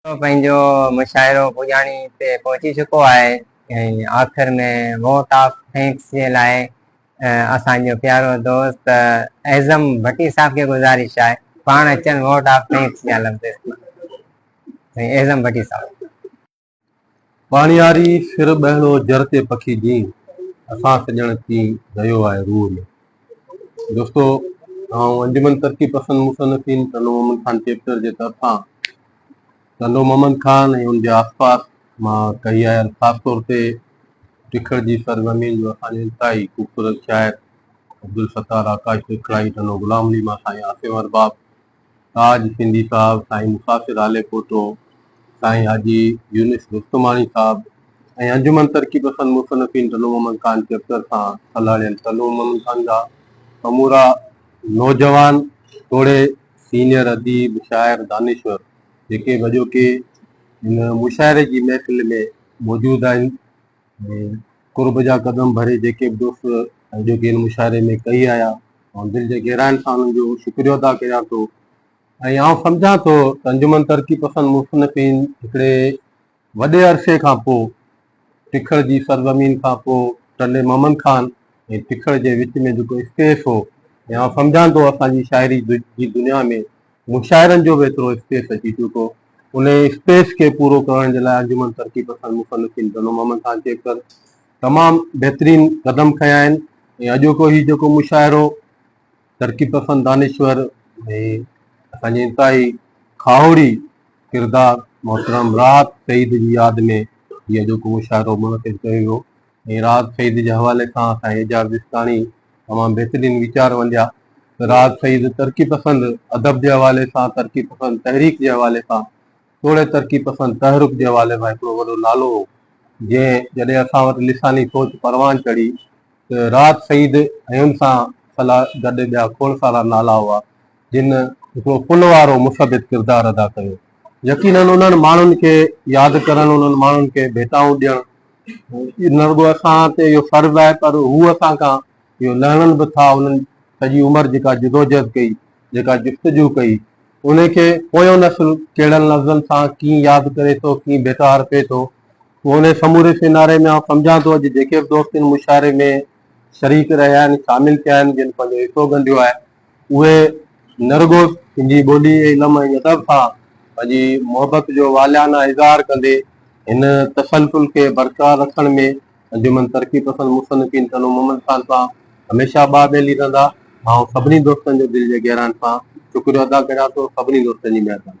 سو پنهنجو مشاعرو پڄاڻي تي پهچي چڪو آهي ۽ آخر ۾ ووٽ آف ٿينڪس جي لاء اسان جو پيارو دوست اعظم ڀٽي صاحب کي گذارش آهي پاڻ اچن ووٽ آف ٿينڪس جا لفظ استعمال ڪن اعظم ڀٽي صاحب. ٻاڻياري سر ٻهڙو جر تي پکي جين اسان سڄڻ ڪين رهيو آهي روح ۾. دوستو آئون انجمن ترقي پسند مصنفين ٽنڊو محمد خان چيپٽر جي طرفان ٽنڊو محمد خان ۽ ان جي آس پاس مان ڪهي آيل خاص طور تي ٽکڙ جي سرزمين جو اسان جو انتهائي خوبصورت شاعر عبدالستار آڪاش ٽکڙائي ٽنڊو غلام علي مان سائين عاصم ارباب تاج سنڌي صاحب، سائين مسافر هاليپوٽو، سائين حاجي يونس رستماڻي صاحب ۽ انجمن ترقي پسند مصنفين ٽنو محمد خان چيپٽر سان سلهاڙيل ٽنو محمد خان جا سمورا نوجوان توڙي سينيئر اديب، شاعر، دانشور جيڪي به اڄوڪي هن مشاعري جي محفل ۾ موجود آهن. قرب جا قدم ڀري جيڪي به دوست اڄوڪي هن مشاعري ۾ ڪهي آيا آئون دل جي گهرائين سان انهن جو شڪريو ادا ڪريان ٿو ۽ آئون سمجهان ٿو ته انجمن ترقي پسند مصنفين هڪڙي وڏي عرصي کان پوء ٽکڙ جي سرزمين کان پوء ٽنڊي محمد خان ۽ ٽکڙ جي وچ ۾ جيڪو اسپيس هو ۽ آئون سمجهان ٿو اسان جي شاعري جي دنيا ۾ مشاعرن جو به ايترو اسپيس اچي چڪو. انهيء اسپيس کي پورو ڪرڻ جي لاء انجمن ترقي پسند مصنفين ڌنو محمد خان کيپڪر تمام بهترين قدم کنيا آهن ۽ اڄوڪو هي جيڪو مشاعرو ترقي پسند دانشور ۽ اسان جي انتهائي کاهوڙي ڪردار محترم راحت سعيد جي ياد ۾ هي اڄوڪو مشاعرو منعقد ڪيو ويو. ۽ راحت سعيد جي حوالي سان سائين اعجاز جسڪاڻي تمام بهترين ويچار ونڊيا ته راحت سعيد ترقي پسند ادب جي حوالي سان ترقي پسند تحريڪ جي حوالي سان توڙي ترقي پسند تحرڪ جي حوالي سان هڪڙو وڏو نالو هو جنهن جڏهن اسان وٽ لساني سوچ پروان چڙهي ته راحت سعيد ۽ ان سان سلا گڏ ٻيا کوڙ سارا نالا هئا جن هڪڙو پل وارو مثبت ڪردار ادا ڪيو. يقينن انهن ماڻهن کي ياد ڪرڻ، انهن ماڻهن کي ڀيٽائون ڏيڻ نه رڳو اسان تي اهو فرض آهي پر هو اسان کان اهو لهڻن به ٿا. انهن سڄي عمر جيڪا جدوجهد ڪئي، جيڪا جستجو ڪئي، انهي کي پويون نسل ڪهڙن لفظن سان ڪيئن ياد ڪري ٿو، ڪيئن ڀيٽا ارپي ٿو، پوء انهي سموري سيناري ۾ آئون سمجهان ٿو اڄ جيڪي به دوست ان مشاعري ۾ شريڪ رهيا آهن، شامل ٿيا آهن، جن پنهنجو حصو ڳنڍيو آهي، اهي نه رڳو سنڌي ٻولي، علم ۽ ادب سان پنهنجي محبت جو والهانه اظهار ڪندي هن تسلسل کي برقرار رکڻ ۾ انجمن ترقي پسند مصنفين تنوع محمد خان سان هميشه ٻاهه ٻيلي رهندا. آئون سڀني دوستن جو دل جي گهرائن سان شڪريو ادا ڪريان ٿو. سڀني دوستن جي مهرباني.